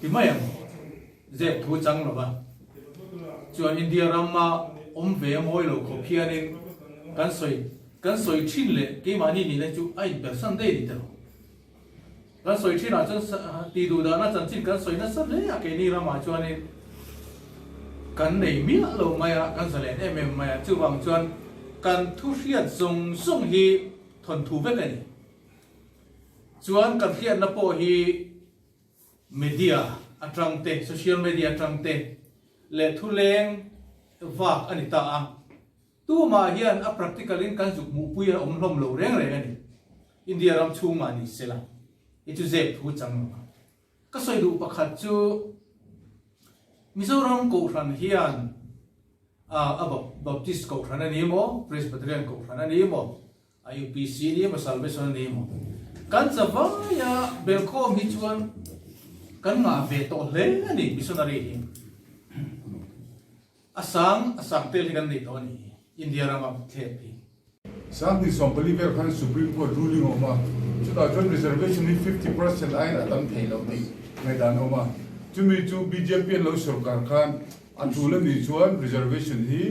Timai ang zep thu chang lo va, chuan India ram a awm ve a ngawi lo khawp hianin kan sawi kan sawi thin leh keimahni nih na chu a inpersan daih a ni tel. Kan sawi thinah chuan tih duh dahna chanchin kan sawi nasa hle a, keini ramah chuanin kan nei miah lo mai a, kan zalen em em mai a, chuvang chuan kan thu hriat zawng zawng hi, Thawn thu vek a ni. Chuan kan hliatna pawh hi media atangte, social media atangte leh thuleng vak a ni ta a. Tumah hian a practical in kan zuk hmuhpui a awm hlawm lo reng reng a ni. India ram chhungmah ni sela, hi chu zep thu chang lo a. Ka sawi duh pakhat chu Mizoram Kohhran hian a Baptist Kohhran a ni maw, Presbyterian Kohhran a ni maw, a UPC a ni maw, Salvation a ni maw, kan chavaia belkhawm hi chuan kan ngah ve tawh hle a ni missionary hi. A sang a sang tel hi kan nei tawh a ni. India rama vut thlep hi. Sang hnih sawm pali vel khan Supreme Court ruling a awm a, chutah chuan reservation hi fifty percent aiin a tam thei lo tih ngaihdan a awm a. Chumi chu bjp an lo sawrkar khan a tul a nih chuan reservation hi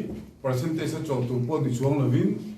percentage a chawh tur pawh ni chuang lovin,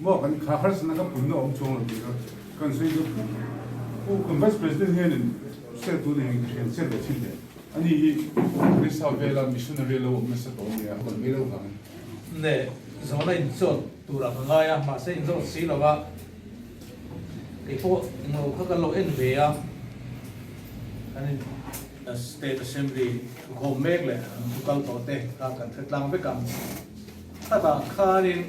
Maw kan thla harsatna ka punna awm chuang lo tih kha kan sawi chu pu pu kan Vice President hianin hriat tu nen ka hrian chiah leh thin le ani hi Police House vela Missionary lo awm nasa tawh ania a bawlh mai lo vang. Neh zawn a inchawt tur aka ngai a mahse inzawt si lo a keipawh englo kha kan lo en ve a kan in State Assembly thukhawm mek leh an thukal tawh te kha kan hretlang vek ang. Chutah khanin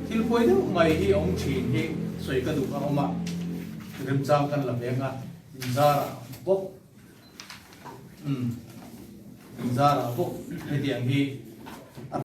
thil pawi deuh mai hi a awm thin hi sawi ka duh a awm a, remchang kan la veng a, inzarah bawk umm inzarah bawk hetiang hi a.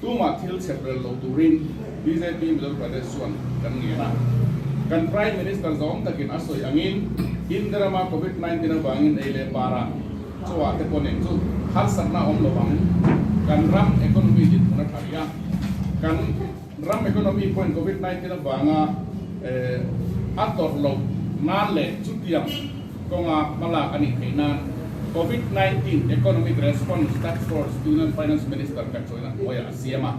Tumah thil chep rel lo turin bjp Mizo Pradesh chuan kan ngen a. Kan Prime Minister zawng takin a sawi angin Indirama Covid nineteen avangin ei leh par a chawah te pawh nen chu harsatna awm lovang kan ram economy dinhmun a tha ri a. Kan. Ram economy pawhin Covid nineteen avanga a tawrh loh nan leh chutiang kawnga hmalak a nih theih nan Covid nineteen Economic Response Task Force Union Finance Minister kan chawina hnuaia a siam a.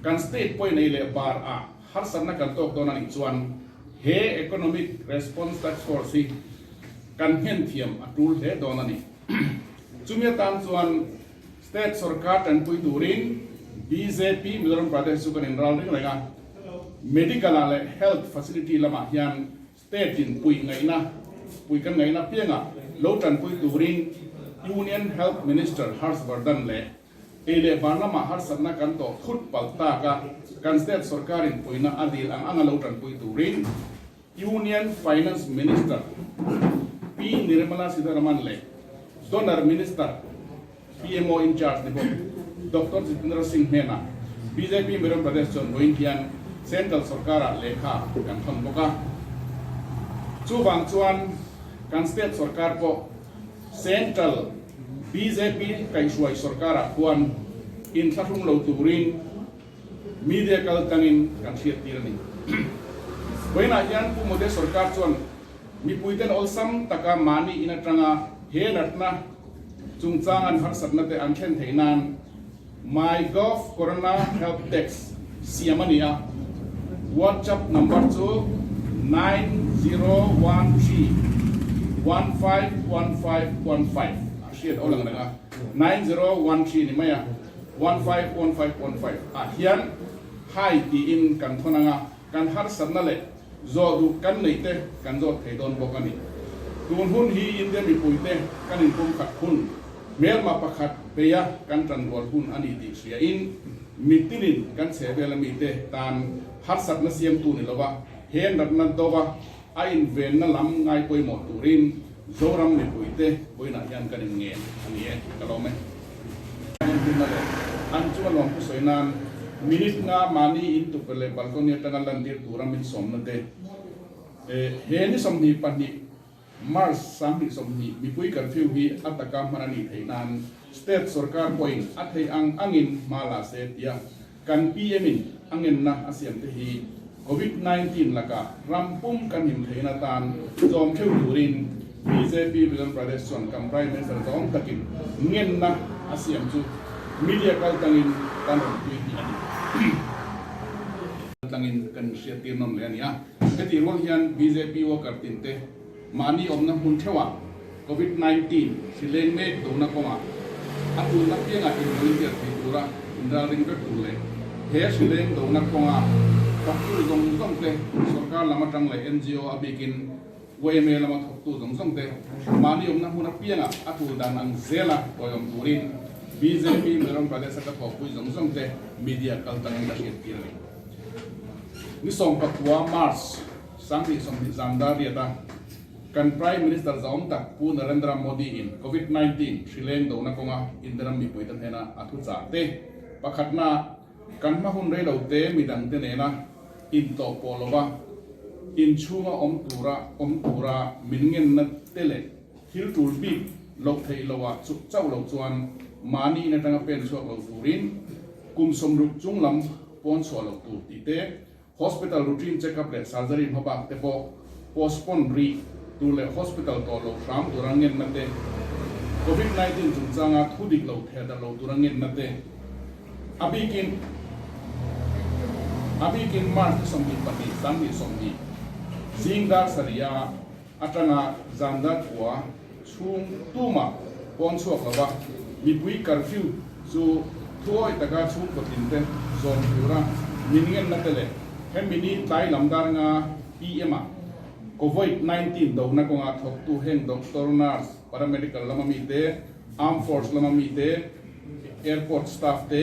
Kan state pawhin ei leh var ah harsatna kan tawk dawn a nih chuan he Economic Response Task Force hi kan nghen thiam a tul hle dawn a ni. Chumi atan chuan. State sorkar tanpui turin bjp Mizoram Pradesh chu kan inral ring reng a, medical ah leh health facility lamah hian state in pui ngaihna pui kan ngaihna apianga lo tanpui turin Union Health Minister Harsh Vardhan leh ei leh van lamah harsatna kan tawh thut palh tak a kan state sorkar in puina a dil ang anga lo tanpui turin Union Finance Minister P Nirmala Sitharaman leh Donor Minister, PMO in charge, te pawh Doctor Jitendra Singh hnena bjp Miram Pradesh chuan vawiin hian Central Sorkara lehkha kan thawn bawk a. Chuvang chuan kan State Sorkar pawh Central bjp kaihhruai Sorkara khuan inthlahrung lo turin, Media kal tangin kan hriattir a ni. Vawiinah hian Pu Mode sawrkar chuan mipuiten awlsam taka mahni in atanga he natna chungchang an harsatna te an thlen theih nan MyGov Corona Help Desk siam a ni a, WhatsApp number chu nine zero one three one five one five one five a hriat aw lang reng a, nine zero one three ni mai a. One five one five one five ah hian Hi tiin kan thawn ang a, kan harsatna leh zawh duh kan neih te kan zawt thei dawn bawk a ni. Tun hun hi India mipui te kan in pum khat hun hmelma pakhat bei a kan tan rual hun a ni tih hria in mittin in kan chhe vel a mi te tan harsatna siam tu ni lo a, he natna doba A invenna lam ngaipawimawh turin Zoram mipuite puiinah hian kan inngen a ni e, ka lawm e. A inhlimna leh an chunga nuam ka sawi nan minute nga mahni in tukverh leh balcony atanga lantir tura min sawmna te, he ni sawmhnih pahnih March sanghnih sawmhnih mipui curfew hi a taka hman a nih theih nan state sorkar pawhin a theih ang angin hma la se tia Kan PM-in a ngenna a siamte hi Covid nineteen lakah ram pum kan in theihna atan tlawm theuh turin bjp Bidon Pradesh chuan kan Prime Minister zawng takin ngenna a siam chu media kaltlangin kan rawn pui tih a ni. Kaltlangin kan inhriat tir nawm leh a nia. Heti ruang hian bjp worker tinte, Mahni awmna hmun theuhah Covid nineteen sileng mek dona kawngah a tlunna piangah in volunteer thei tura in ralring vek tur leh he sileng dona kawnga thawktu zawng zawngte sawrkar lam atang leh NGO a bikin YMA lama thawktu zawng zawngte mahni awmna hmun apiangah a tul dan ang zel a hawiawm turin bjp Mizoram Pradesh ata thawhpui zawng zawngte media kal tangin ka hriattir a ni. Ni sawmpakua, March. Sang ni sawmhnih zan dar riata kan Prime Minister Zahawm tak Pu Narendra Modi in Covid nineteen thrileng dona kawnga Indiaram mipuite hnena a thuchah te, pakhatna kan hma hun rei lo te mi dangte nena intlawh pawh lova in chhunga awm tura awm tura min ngenna te leh thil tul bik loh theih lo ah chuh chauh lo chuan mahni in atanga pen chhuak lo turin kum sawmruk chunglam pawnchhuah loh tur tih te Hospital routine check-up leh surgery hma bak te pawh postpone rih tur leh hospital tawh loh hram tura ngenna te, Covid nineteen chungchanga thu dik lo theh darh lo tura ngenna te a bikin a bikin March ni sawmhnih pahnih, Dang ni sawmhnih, Zingdar sarih a, Atanga zan dar khua chhung tuma pawn chhuak lo a, mipui curfew chu thuawih taka chhungkaw tinte zawm tur a, min ngenna te leh hemi ni tlai lam darnga PM-a Covid nineteen dona kawnga thawktu heng doctor, nurse, paramedical lama mite, armed force lama mite, airport staff te,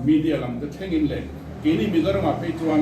media lam te thlengin leh keini Mizorama phei chuan.